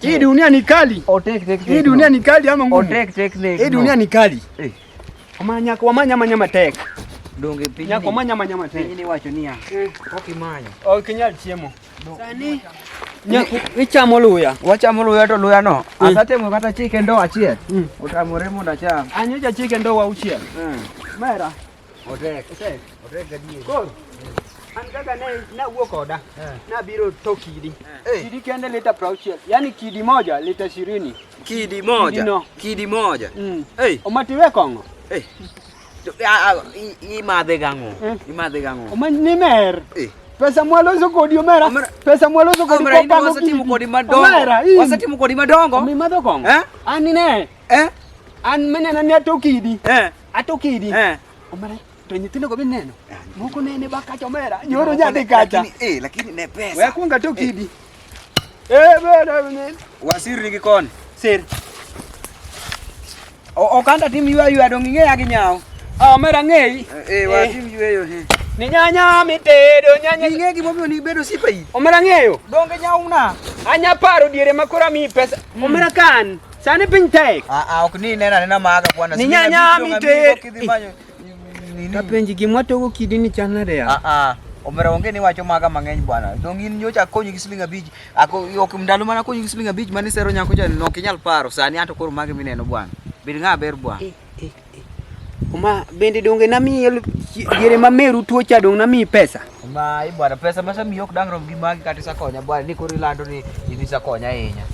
Hii dunia ni kali. Oh, Hii dunia ni kali ama ngumu. Oh, Hii dunia ni kali. Eh. Wamanya wamanya manyama tek. Donge pinyi. Nyako manyama nyama tek. Pinyi ni wacho niya. Eh. Okimanya. Okinyal chiemo. Sani ichamo luya. Wachamo luya to luya no. Mm. Asatemo kata chike ndo achiel. Mm. Utamore mondo acham. Anyo ja chike ndo auchiel. Mm. Mera. Otek. Otek. Otek gadier. Koro. An kaka ne nawuo koda. Eh. Nabiro to kidi. Eh. Kidi kende lita prauchiel. Yaani kidi moja lita ishirini. Kidi moja. Kidi, no. kidi moja. Mm. Hey. Omatiwe kongo. Hey. imadhegango imadhegango nimer eh. pesa mwaloso kodi omera pesa mwaloso kodi kopango wasatimu kodi madongo omera wasatimu kodi madongo mimadho kongo eh an ne eh an menena ni atokidi eh atokidi eh omera to nyithindo go bineno ah, moko nene bakacha omera nyoro nyadhi kacha eh lakini ne pesa wekunga tokidi Eh, bwana mimi. Wasiri gikon. Sir. O okanda tim ywa ywa dong ing'e ya gi nyawo. Ah, mera ng'ei. Eh, eh, eh. watim yweyo he. Ni nyanya mitedo nyanya. Ing'e gima omiyo ni bedo sipa yi. Omera ng'eyo. Donge nyawo na. Anya paro diere makora mi pesa. Mm. Omera kan. Sani piny tek. Ah, ah, ok ni nena nena maga bwana. Ni nyanya mitedo. Kapenji gimwa togo kidi ni chan nade ya? Ah ah. Omera onge ni wacho maga mang'eny bwana. Dong in nyocha akonyi gi siling abich. Ako ok ndalo mana akonyi gi siling abich mane sero nyako cha no kinyal paro. Sani anto koro magi mineno bwana. Bed ng'a ber bwana. Eh, eh, eh. Oma bende donge nami yel yere mameru tuocha dong nami pesa. Mai bwana, pesa masa miyo kudang rom gi magi kata sakonya bwana, ni kori lando ni ini sakonya ahinya.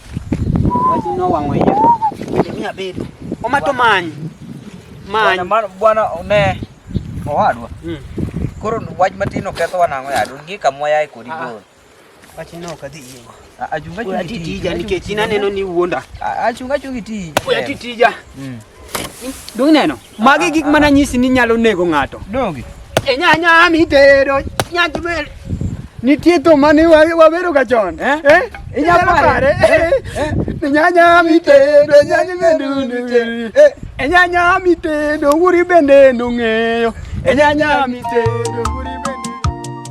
Wach no wang'o iya. Bende mi abedo. Omato many. Many. Bwana mar bwana ne owadwa. Mm. Koro wach matin oketho wanang'o yadu gi kamwa yae kodi ah, ah. go. Wachi no kadhi yie. Achunga chunga tija nikech ina neno ni wuonda. Achunga chunga tija. Oya tija. Mm. Dong neno. Magi gik mana nyisi ni nyalo nego ng'ato. Dongi. E nya nya mi tero nya tubel. Nitie to mane wabero ga chon. Eh? eh? Inya pare. Eh? eh? Ni nya nya mi tero nya nya mendu. Eh? E nya nya mi tero wuri bende nung'eyo. E nya nya mi tero wuri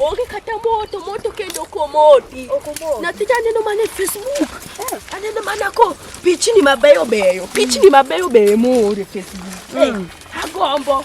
onge kata moto moto kendo komoti nyathi cha aneno mana e facebook eh. aneno mana ko pichni mabeyo beyo pichni mabeyo beyo moore facebook eh. hmm. agombo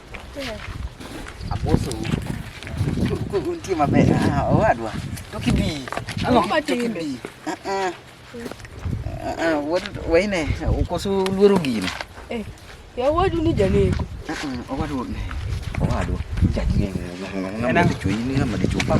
Aposo. Kuntie maber. Ah, owadwa. To kibi. Ang'o ma timbe? Ah ah. Ah ah, what waine ukoso luoro gino. Eh. Ya wadu ni janeko. Ah ah, owadwa. Owadwa. Janeko. Ng'ama dichwo ini ng'ama dichwo pa.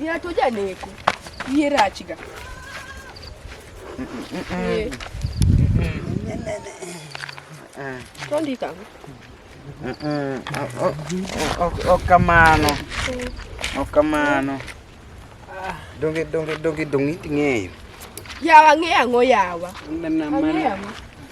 Ng'ato janeko. Yie rachga. To ndika ang'o? Ok kamano. Ok kamano. Donge donge donge donge iting'eyo. Yawa ng'e ang'o yawa? Ang'e ang'o?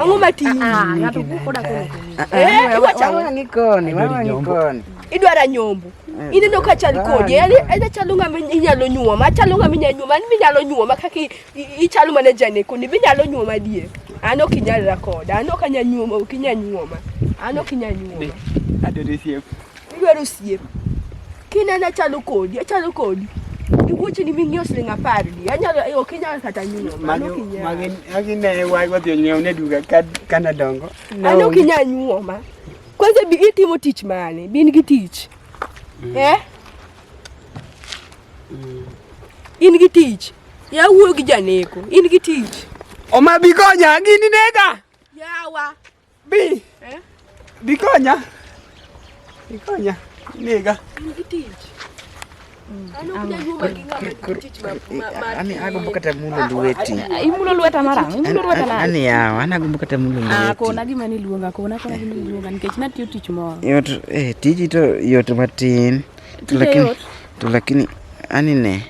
Ang'o matin? Ah, ah, ng'ato wuok koda kono. Ah, eh, iwa chamo ni koni, mama ni koni. Idwara nyombo. Eh, Ineno ka chal kodi, yani eda chalo ng'ama inyalo nyuoma, chalo ng'ama inyalo nyuoma, an minyalo nyuoma kaka ichalo mana jane koni, binyalo nyuoma die. An ok inyalra koda, an ok anyanyuoma, ok inyanyuoma. An ok inyanyuoma. Adore siep. Idwaro osiep. Kinena chalo kodi, achalo kodi. Iwuoche ni ming'iew siling apar di. Anyalo eh, ok inyal kata nyuno. Mano kinyal. Magi agi ne wai wadhi nyiew ne duga kad kana dongo. Ano kinyal nyuoma. Kwanza bi itimo tich mane? Bin gi tich. Mm. Eh? Mm. In gi tich. Ya wuo gi janeko. In gi tich. Oma bi konya gini nega. Yawa. Bi. Eh? Bi konya. Bi konya. Nega. Ani agombo kata mulo lweti. Imulo lweta mara. Imulo lweta na. Ani yawa, ana agombo kata mulo lweti. Ah, kona gima ni luonga, kona kona gima ni luonga nikech natiyo tich moro. Yot eh tiji to yot matin. To lakini to lakini ani ne.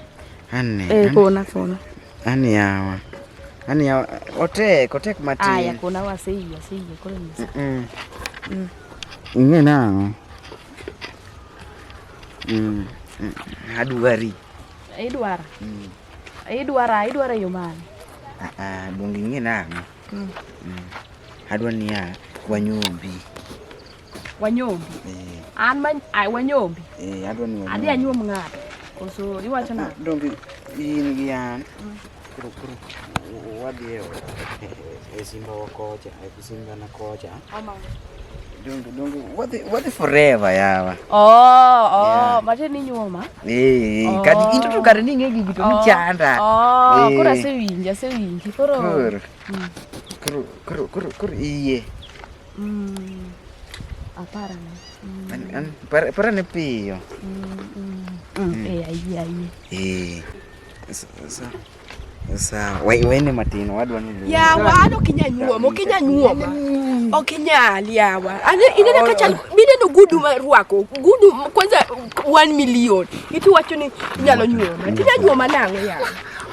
Ani ne. Eh, kona kona. Ani yawa. Ani yawa. Otek, otek matin. Aya, kuna wase hiyo, si hiyo kule ni. Mm. Mm. Inge nango. Mm. mm. Aduari. Idwara. Mm. Idwara, idwara yo mane? Ah, ah, bungi inge nango. Mm. Mm. Adwa niya wanyombi. Wanyombi. Eh. An man ai wanyombi. Eh, adwa ni wanyombi. Adhi anyuom ng'ato. Koso iwacho na. Donge in gi an. Mm. Kuro kuro. Wadhi e e simba wakocha, e simba na kocha. Ama. Donge donge wadhi wadhi forever yawa. Oh, oh, mate ni nyuoma. Eh, oh. kati into to kare ni ngegi gito ni oh. chanda. Oh, kuro eh. asewinja, asewinji. Kuro. Kuro. Mm. Kuro kuro kuro iye. Mm. Ah, para na. Mm. An, an, para, para na piyo. Mm, mm. Mm. Mm. Eh, ayi, ayi. Eh. Sa, sa. Sa, wai, wai ni matino, wadu wanu luwa. Ya, wa, ano kinya nyuwa, mo kinya nyuwa ma. Mm. O kinya alia wa. Ane, ine na kacha, bine no gudu ma ruako. Gudu, kwanza, one million. Itu wacho ni, kinya lo nyuwa ma. Kinya nyuwa ma nango ya.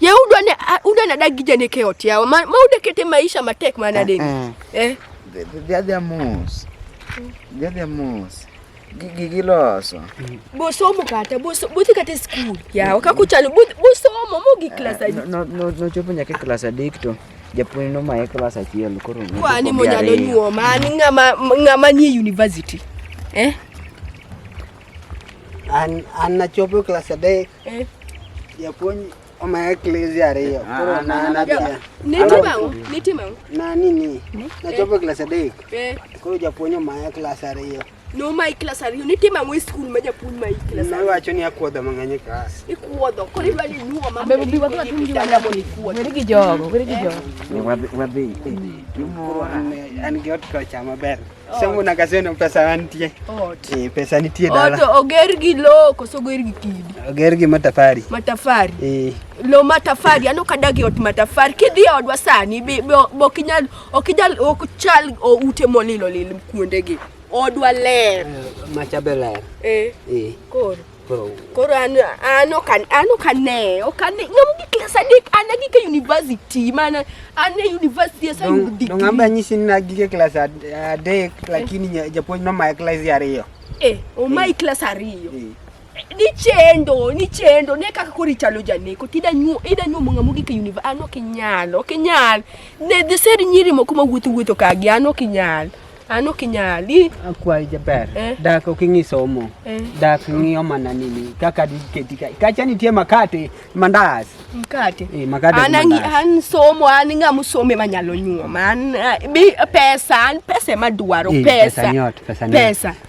Ye udwa ne udwa na dagi jane ke ot yawa ma ude kete maisha matek mana den. Eh. eh. The, the, the other moves. The other moves. gigiloso bosomo kata bothi kata e skul yawa kaka uchalo bosomo mogi klas eh, nochopo nyaka e klas adek to japuonj nomaye klas achiel koro kwani monyalo nyuoma an ng'ama nie university eh? an nachopo e klas adek Eh. Japuonj omaye klas ariyo. Ah, Koro ah, na na na. Nitima u, nitima u. Na nini? Na chopo eh. klas adek. Eh. Koro japuonj omaye klas ariyo. No ma klas ariyo nitima u e skul ma japuonj ma klas. Na wacho ni akuodho mang'eny e klas. Ikuodho. Koro idwa ni nyuo ma. Bebe bi wadwa tum jwa nyamo ni kuodho. Weri gi jogo, weri gi eh. jogo. Wadhi wadhi. Koro an an gi ot kocha maber. Sema na kazi na pesa wantie. Ot. Eh, pesa nitie dala. Ot oger gi lo koso oger gi kidi. Oger gi matafari. Matafari. Eh. Lo matafari, ano kadagi ot matafari. Kidhi e odwa sani be ok inyal ok inyal ok chal o ute molilo lil kuonde gi. Odwa ler. Eh, Macha be ler. Eh. Eh. Koro. Koro an an ok an an ok ane, ok ane. Ng'am gi class adek an gi ke university mana an e university asa yudo Dong dong amba degree. nyisi ni nagige klas ad- adek lakini nya- japuonj nomaya klas ya ariyo. Eh, omai class ariyo. Eh, Ni chendo, ni chendo, ne kaka koro ichalo janeko, tida nyu, ida nyu munga mugi ke univ, an ok inyal, ok inyal. Ne the said nyiri moko mawuotho wuotho kagi, an ok inyal. An ok inyali. Akwayi jaber. Eh. Dak ok ing'i somo. Eh. Dak ng'iyo mana nini kaka diketi ka. Kacha nitie makate, mandas. Mkate. Eh, makate. An angi an somo an ng'a musome manyalo nyuoma. An eh, bi pesa, an pesa madwaro eh, pesa. Pesa nyot, pesa nyot. Pesa.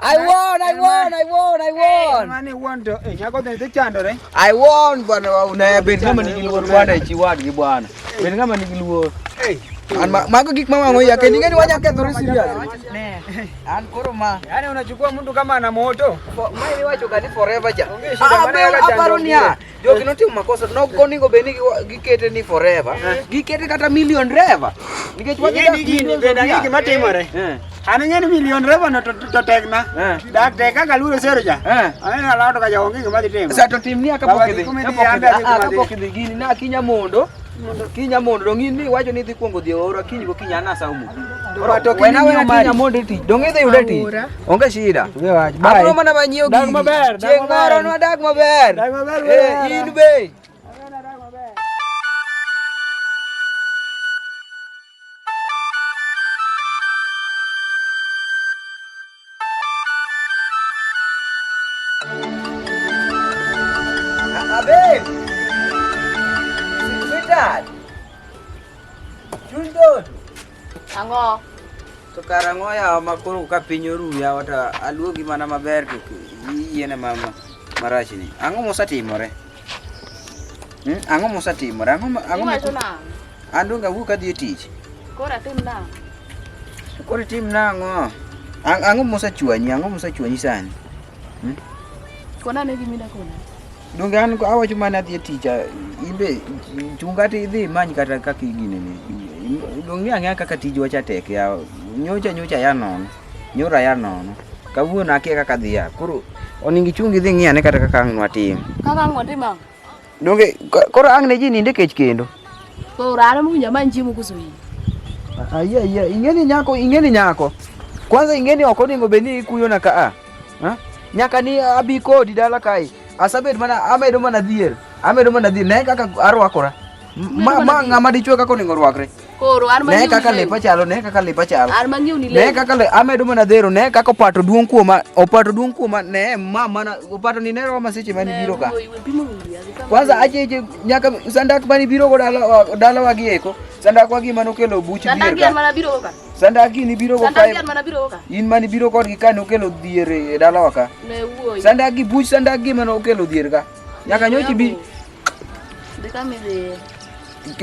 I won, I won, I won, I won. Mane won to eh nyako ne chandore. I won bwana una ben kama ni giluo bwana ichi wadgi bwana. Ben kama ni giluo. Hey. An mago gik mawango ya kendi ngeni wanya kethore serious. Ne. An koro ma. Yaani unachukua mtu kama ana moto. Mai wacho gani forever ja. Ah, aparo niya. jogi notimo makosa no onego bed ni gikete ni forever eh. gikete kata million reva nikech wadgima timore eh. an ing'e ni million reva no to tekna eh. dak tek kaka luoro sero ja aneno alawto ka jaonge gima dhi timo sa to timni akapok idhi ah, ah, gini na akinya mondo Kiny amondo dong in iwacho ni idhi kuongo dhi ora kiny go kiny anasa umo. Ora to kiny amondo kiny amondo ti. Dong idhi yude ti. Onge shida. Abro mana manyiew gini. Dag maber. Chieng' moro nwa dag maber. Dag maber. Eh, in be. Ang'o? To kar ang'o yawa ma koro ka piny oru yawa to aluogi mana maber to yiene ma marach ni. Ang'o mosatimore? Hmm? Ang'o mosatimore? Ang'o ang'o An donge awuok adhi e tich. Koro atim nang'o? Koro itim nang'o? Ang' Ang'o mosechwanyi? Ang'o mosechwanyi sani? Hmm? Kona ane gima idakona. Donge an awacho mana adhi e tich a- in be chung kata idhi imany kata kaka iginene. Donge ing'e ang'eya kaka tijwa cha tek ya nyocha nyocha ya nono. Nyora ya nono. Kawuono akia kaka adhi ya. Koro onego ichung idhi ng'i ane kata kaka ang' nwatim. Kaka ang' watim ang'o? Donge koro ang' ne ji ninde kech kendo. Koro an mowinjo amany chiemo koso iyi. Ayie ayie, ing'eni nyako, ing'eni nyako. Kwanza ing'eni ok onego bed ni ikuyona ka a. Ha? Nyaka ni abi kodi dala kae. Asabed mana amedo mana dhier. Amedo mana dhier. Ne kaka arwakora. Ma ma ng'ama dichwe kaka onego orwakre. Koro an ne kaka lepa chalo ne kaka lepa chalo an mangiu ni ne kaka le amedo mana dhero ne kaka opato duong kuoma opato duong kuoma ne ma mana opato ni ne roma seche mani biro ka kwanza aje je nyaka sandak mani biro go dala dala wagi eko sandak wagi mano kelo buch bier sandak yan mana biro ka sandak ni biro go ka yan mana biro ka in mani biro kod gi ka no kelo dhier e dala waka ne wuoi sandak gi buch sandak gi mano kelo dhier ka nyaka nyochi bi Dekame de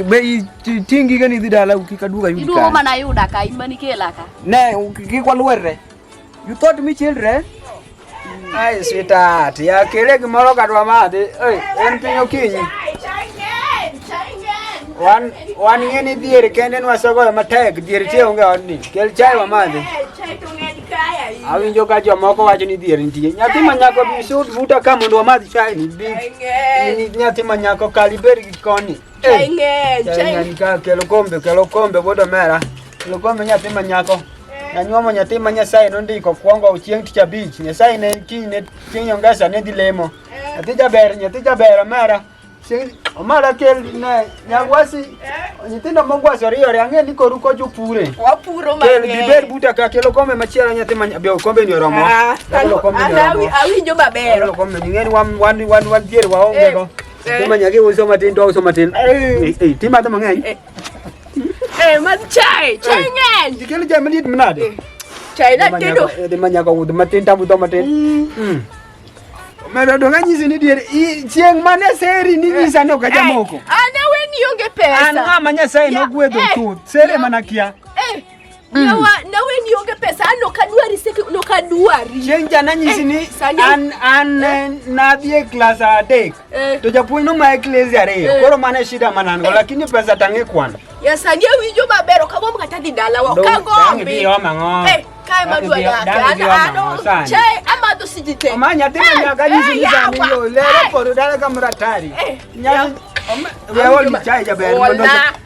bei tingi gani dhidala ukikaduka yudi idu homa na yuda ka imani kela ka ne ukikwa luere you taught me children ai sweetheart ya kile kimoro kadwa mate ei en pinyo kinyi wan wan ngeni dhier kende nwasogoyo matek dhier tie onge odni kel chai wamadhi awinjo ka jomoko wacho ni dhier nitie nyathi manyako bisud buta ka mondo wamadh chai ni nyathi manyako kali bed koni chai ng'eny chai ng'eny ka kelo kombe kelo kombe bodo mera kelo kombe nyathi ma nyako eh. nanyuomo nyathi ma nyasaye nondiko kwongo chieng' tich abich nyasaye ne kiny ne chieng' ongesa ne dhi lemo eh. nyathi jaber nyathi jaber omera omara kel ne nyagwasi eh. nyithindo mogwasi oriyore ang'e ni koru ko jopure wapuro mang'eny kel giber buta ka kelo kombe machielo nyathi ma be kombe ni oromo ah, awinjo maber kelo kombe ni ng'eni wan wan wan wan dier waonge go eh. Eh. Kuma nyage uso matin to uso matin. Eh, eh tima to mang'eny. Eh, eh man chai, chai eh. ng'eny. Dikelo chai maliet mnade? Eh, chai na tedo. Eh, dima nyaka ud matin tabu to matin. Mm. mm. Mero donga nyisi ni diere chieng' mane seri ni nyisa no ka jamoko. Ana weni onge pesa. Ana manya sai no gwedo tu. Seri mana kia. Mm. Nawa nawe nionge pesa ano kadwari seki no kadwari. Chieng jana nyisi ni eh, an an eh. nadhie class adek. Eh. To japuonj no mae class ariyo. Eh. Koro mane shida manango eh. lakini pesa tange kwana. Ya sani winjo maber ok agomb kata dhi dalawa. Ka gombi. Dhi oma ngo. Eh, kae madwa yake. Ana ano. Che ama to sijite. Oma nyathi ma nyaga nyisi ni sani yo lero koro dala kamratari. Nyathi. Wewe ni chai jaber. Wala.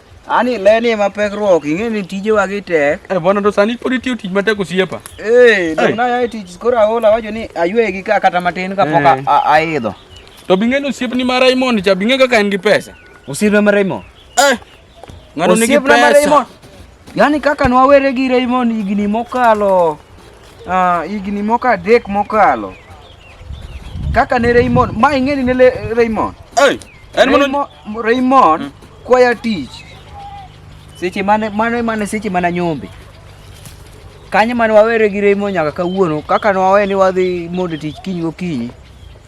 Ani leni ema pek ruok, ing'e ni tijewa gi tek. Eh, bwana to sani pod itiyo tich matek osiepa. Eh, dong na yae tich koro aola wacho ni aywe gi ka kata matin ka pok eh. aidho. To bing'e ni osiep ni ma Raymond cha bing'e kaka en gi pesa. Osiep na ma Raymond. Eh. Ng'ano nigi pesa. Osiep na ma Raymond. Yaani kaka nwawere gi Raymond higni mokalo ah, higni moko adek mokalo. Kaka ne Raymond, ma ing'e ni ne Raymond. Eh. En mono Raymond hmm. kwaya tich seche mane mane mane seche mana nyombe kanye mane wawere gi Raymond nyaka kawuono kaka ne wawe ni wadhi mondo tich kiny gokinyi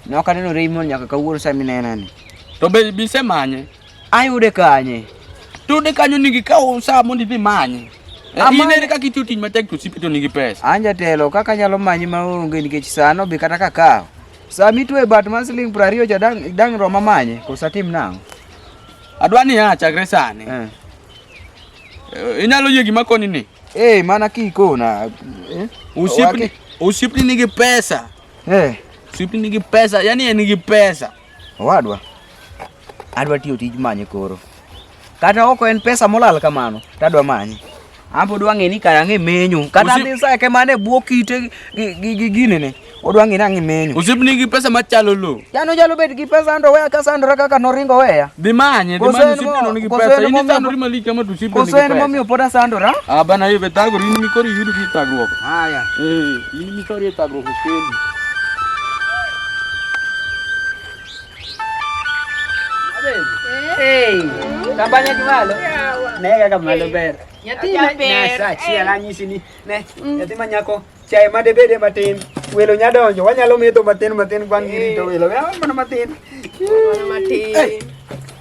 ne ok aneno Raymond nyaka kawuono sami nenani to be bise manye ayude kanye tude kanyo nigi kawo saa mondo idhi manye Eh, in ere kaka itiyo tich matek to osiepe to nigi pesa. An jatelo kaka anyalo manyi maonge nikech sano be kata kakawo Saa mitwe bat mar siling' piero ariyo cha dang' dang' roma manye koso atim nang'o? Adwa ni a chakre sani. Eh. Eh, Inyalo yie gima koni ni. Eh, mana kikona. Eh? Osiepni Waki- osiepni nigi pesa. Eh, Osiepni nigi pesa, yani en nigi pesa. owadwa. Adwa tiyo tij manye koro. kata oko en pesa molal kamano tadwa manyi ambe odwa ng'e ni kara ng'e menyo kata dhi sa ke mane bwo kite gi gine ne odwa ng'e nang'e menyo osip ni gi pesa machalo lo yano jalo bet gi pesa ando weya ka sandra kaka noringo weya dhi manye dhi manye osip ni gi pesa ini sandra ni malika ma tusip ni kosen mo mi opoda sandra ah bana yo betago ni mi kori yudu ki tagruok haya eh ini mi kori tagruok kendi Tambanya kimalo. Nega kamalo ber. Yatima ber. Sa chiel anyisi ni ne mm. yatima nyako chae ma debede matin. Welo nya donjo. Wanyalo metho matin matin kwan girito welo. Welo mana matin. Mana matin.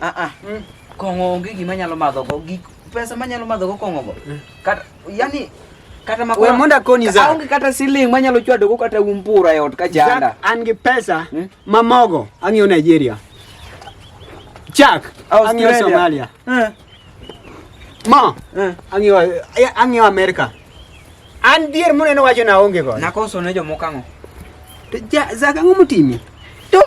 Ah ah. Mm. Kong'o onge gima nyalo madho go gik pesa manyalo madho go kong'o go. Mm. Kata yani kata makwa. Wewe monda koni za. Aonge kata siling manyalo chwado go kata umpura yot ka janda. An gi pesa mm? mamogo ang'yo Nigeria. Chak ang'yo Somalia. Mm. Ma eh. ang'yo ang'yo America. An dier muneno wacho na onge go. Nakoso ne jomoko ang'o? To ja zaka ang'o motimi? To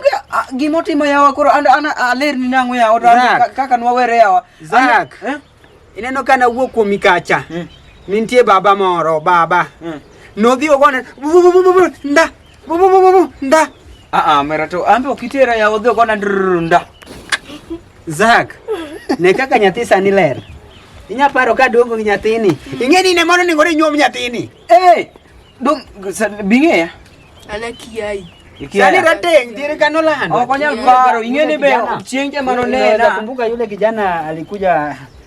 gima otimo yawa koro an an aler ni nang'o yawa to kaka nwawere yawa. Zak. Eh? Ineno kana wuok kuom mikacha. Hmm. Nintie baba moro baba. Hmm. Nodhi ogone nda Bu bu bu bu bu nda. Ah ah mera to ambe okitera ya odhi okona drrr nda. Zak. Ne kaka nyathi sani ler. Inya paro ka dongo gi nyathini. Ing'e ni ne mono ni ngore nyuom nyathini. Eh. Dong sa- bing'e ya. Ana kiai. Sani rateng dire kano lando. Ok onyal paro, ing'e ni be Kijana. chieng' jema nonena. Nakumbuka yule kijana alikuja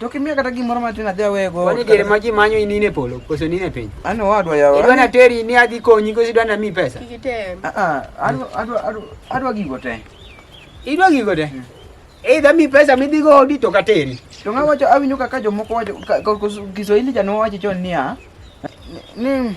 To kimiya kata gimoro matin adhi awego. Kwani diere ma ji manyo inine polo koso nine piny. An owadwa yawa. Idwa na teri ni adhi konyi koso idwa na mi pesa. Kikitem. Ah ah, adwa adwa adwa adwa gigo te. Idwa gigo te. Hmm. Either mi pesa mi dhigo odi to kateri. To ng'a wacho awinjo kaka jomoko wacho Kiswahili jano wacho chon niya ni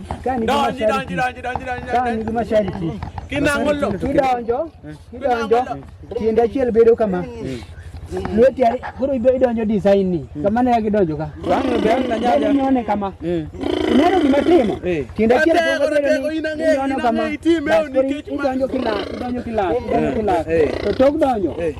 Donji, donji, donji, donji, donji. Kani gi mashariki. Kinangolo. Kidonjo. Kidonjo. Tiende achiel bedo kama. Lweti ari, koro ibe idonjo design ni. Kama ne gidonjo ka. Bang' bang' na nyanya. Inone kama. Ineno gima timo. Tiende achiel Ate, koro ate, bedo ni inang'e, inyono kama. inang'e itime, Bas, koro nikech ma- idonjo kila, idonjo kila, idonjo kila. To tok donjo.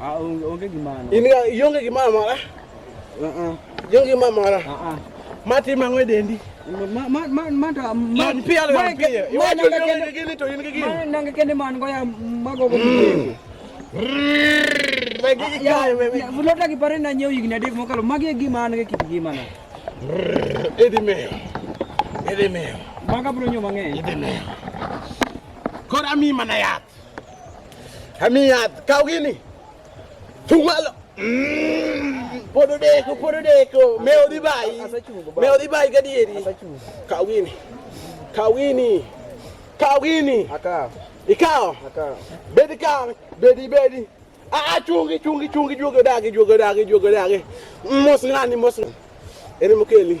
Ah, onge gimano. In ga ionge gimoro amora? Uh-uh. Ionge gimoro amora? Uh-uh. Mati mang'o e dendi? Ma ma ma ma to ma pi alo pi. Iwacho ni onge gini to in gi gini. Ma nange kende man go ya mago go. Fulota ki pare na nyiew higni adek mokalo magi e gima an gi kit gima na. Idhi meyo. Idhi meyo. Maga bro nyo mang'eny. Idhi meyo. Koro ami mana yath. Hamiad, kau gini. Tunggu lo. Mm, podo deko, podo deko. Meo di bai. Meo di bai gadieri. Kau gini. Kau gini. Kau gini. Akau. Ikau. Akau. Bedi kau. Bedi, bedi. Ah, ah, chungi, chungi, chungi, chungi, dagi, chungi, dagi, chungi, dagi. Mos ngani, mos ngani. Ene mukeli.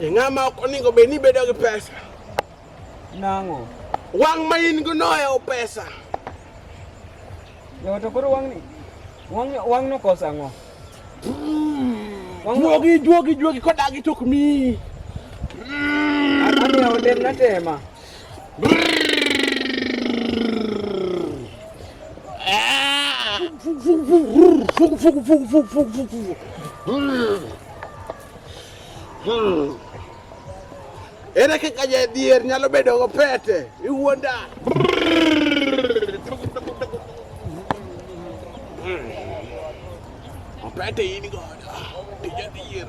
e ng'ama ok oningo bed ni bedo gi pesa nang'o wang' ma in go noyawo pesa yawa to koro wang'ni wang' nokoso ang'o juogi juogi juogi kodagi tok mi amiyawo dem natema Ere kaka jadhier nyalo bedo go pete? Iwuonda. Pete in godo. Tija dhier.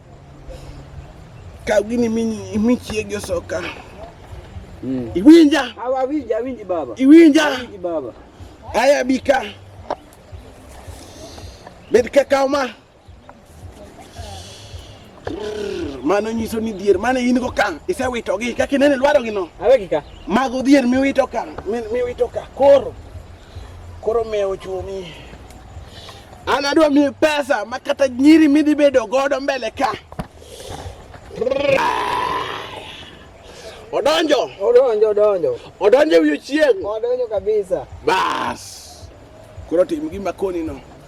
Ka gini mini mi chiege soka. Mm. Iwinja. Hawa winja, winji baba. Iwinja. Winji baba. Aya bika. Bed kaka ma. Mano nyiso ni dhier mane in go ka isewitogi kaka inene lwarogi no. Awegi ka. Mago dhier miwito ka, miwito ka. Koro Koro mewo chumi. An adwa miyi pesa ma kata nyiri midhi bedo godo mbele ka. Odonjo. Odonjo, odonjo. Odonjo wiyo chieng'. Odonjo kabisa. Bas. Koro tim gima koni no.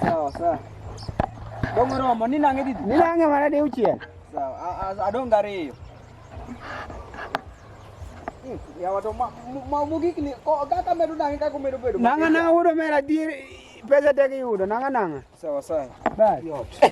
Sawa sawa. Dongo romo ni nange didi? Ni nange mara de uchiel. Sawa, adonga ariyo. Hmm, ya watu ma ma mugiki ni ko kaka medo nange kaka medo bedo. Nanga nanga wudo mera dir pesa tegi yudo nanga nanga. Sawa sawa. Bye.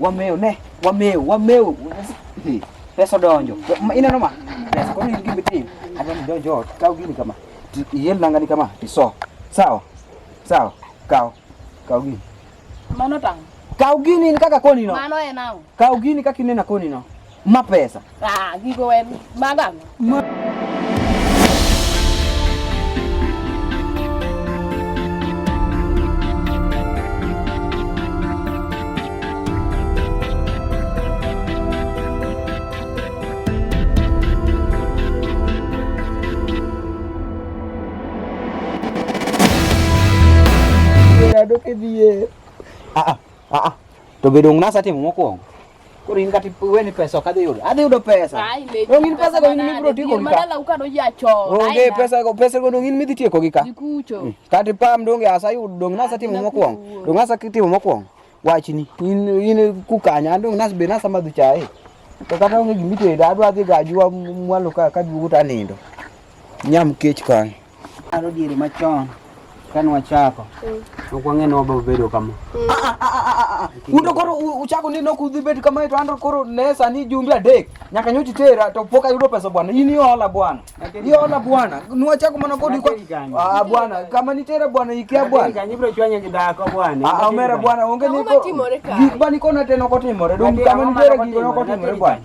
Wamew ne, wamew, wamew. Pesa donjo. Ma ineno ma? Pesa koro in gimbe tim. Adwa ni donjo ot, kaw gini kama. Ti- Iel nangani kama, tiso. Sawa. Sawa. Kaw. Kaw gini. Mano tang'. Kaw gini in kaka koni no. Mano en ang'o? Kaw gini kaka inena koni no. Ma pesa. Ah, gigo en maga. Ma Adoke biye. Ah ah. Ah ah. To bedo ngnasa timo mokwongo. Koro in kati wewe ni pesa kadhi yudo. Adhi yudo pesa. Dong in pesa go in mi bro tieko gi ka. Madala uka do ya cho. Onge pesa go pesa go dong in mi dhi tieko gi ka. Dikucho. Mm. Kati pam dong ya sa yudo dong nasa timo mokwong. Dong nasa timo mokwong. Wachni in in kukanya dong nas be nasa madhi chae. To kata onge gimitedo adwa dhi gajua mwalo ka ka duogo ta nindo. Nyam kech kan. Aro diere machon kane wachako mm. ok wang'e ni wabiro bedo kama mm. ah, ah, ah, undo koro uchako ni nok udhi bet kama to ando koro ne sani jumbe adek nyaka nyochi tera to pok ayudo pesa bwana in iola bwana iola bwana nwachako mana kodi kwa bwana kama nitera bwana ikia bwana omera bwana onge ni gik bani kona teno kotimore dong kama nitera gik nokotimore bwana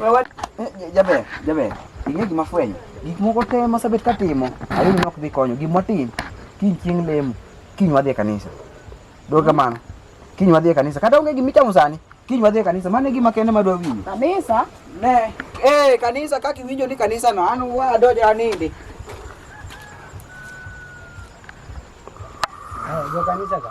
Wewe eh, jaber, jaber. Ing'e gima fwenyo. Gik moko te masabet katimo, ayudo nok dhi konyo. Gima watim, kiny chieng' lemo, kiny wadhi e kanisa. Dog kamano. Kiny wadhi e kanisa. Kata onge gima ichamo sani, kiny wadhi e kanisa. Mano e gima kende madwa winjo. Kanisa? Ne. Eh, kanisa kaka iwinjo ni kanisa no, an wadonjo anindi. Eh, jo kanisa ka.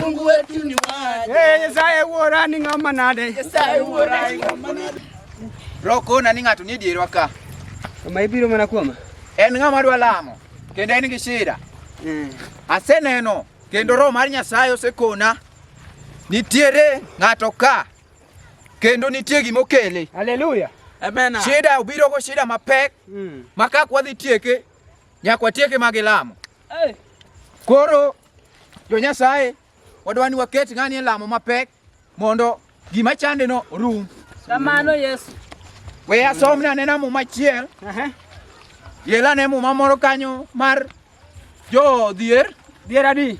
Mungu wetu ni waje. Eh, Nyasaye wuora ni ng'ama nade? Nyasaye wuora ni ng'ama nade? Roko na ni ng'ato ni dierwa ka. Kama ibiro mana kuoma. En ng'ama dwa lamo kendo en gi shida. Mm. Aseneno kendo roho mar Nyasaye osekona nitiere ng'ato ka kendo nitie gima okele. Haleluya. Amen. Shida obiro go shida mapek mm. makak wadhi tieke nyaka watieke ma gilamo. Koro jo Nyasaye wadwani waket ng'ani e lamo mapek mondo gima chande no rum. Kamano Yesu. We asom na nena muma chiel. Yela ne muma moro kanyo mar jo dhier. Dhier adi?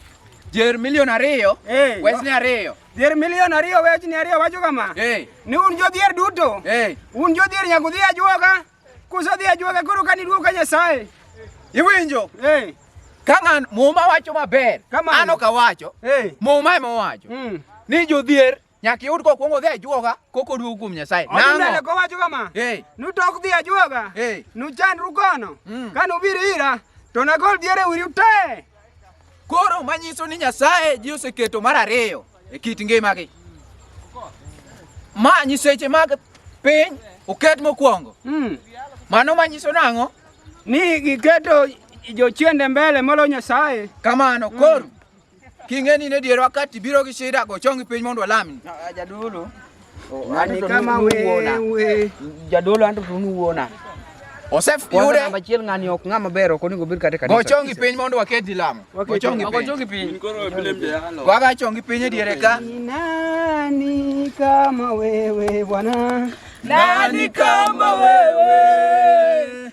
Dhier milion ariyo. Hey. Wes ni ariyo. Dhier milion ariyo wech ni ariyo wacho kama. Hey. Ni un jo dhier duto. Hey. Un jo dhier nyaka udhi ajuoga. Kusadhi ajuaga koro ka niduogo ka Nyasaye. Iwinjo? Eh. Ka ng'an muma wacho maber, Kamano. an ok awacho. Eh. Muma ema owacho Mm. ni jodhier nyaka iyud kokwongo odhi ajuoga koka oduogo kuom Nyasaye. Odhi mbele Nang'o? kowacho kama. Eh. Nutok dhi ajuoga. Eh. Nuchandru kono. Mm. Ka nubiro ira to nagol diere wiru te. Koro manyiso ni Nyasaye ji oseketo mar ariyo e kit ngimagi. Ma nyiseche mag piny oket mokwongo. Mm. Mano manyiso nang'o? Ni giketo jochiende mbele molo Nyasaye. Kamano mm. koro mm. king'eni ne dierwa kati biro gi shida go chongi piny mondo walamni. Jadolo. Ng'ani kama wewe. Jadolo anto tunu wuona. Osef yude. Namba achiel ng'ani ok ng'ama ber ok onego obed kata kanisa. Gochongi piny mondo wakedi lamo. Gochongi piny. Gochongi piny. Koro blem de halo. Waga chongi piny e diere ka. Nani kama wewe bwana. Nani kama wewe.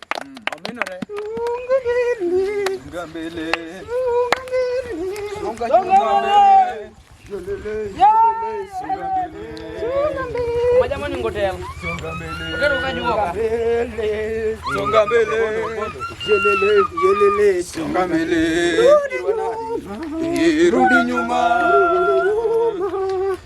Majamani, ngotea songa mbele, songa mbele, rudi nyuma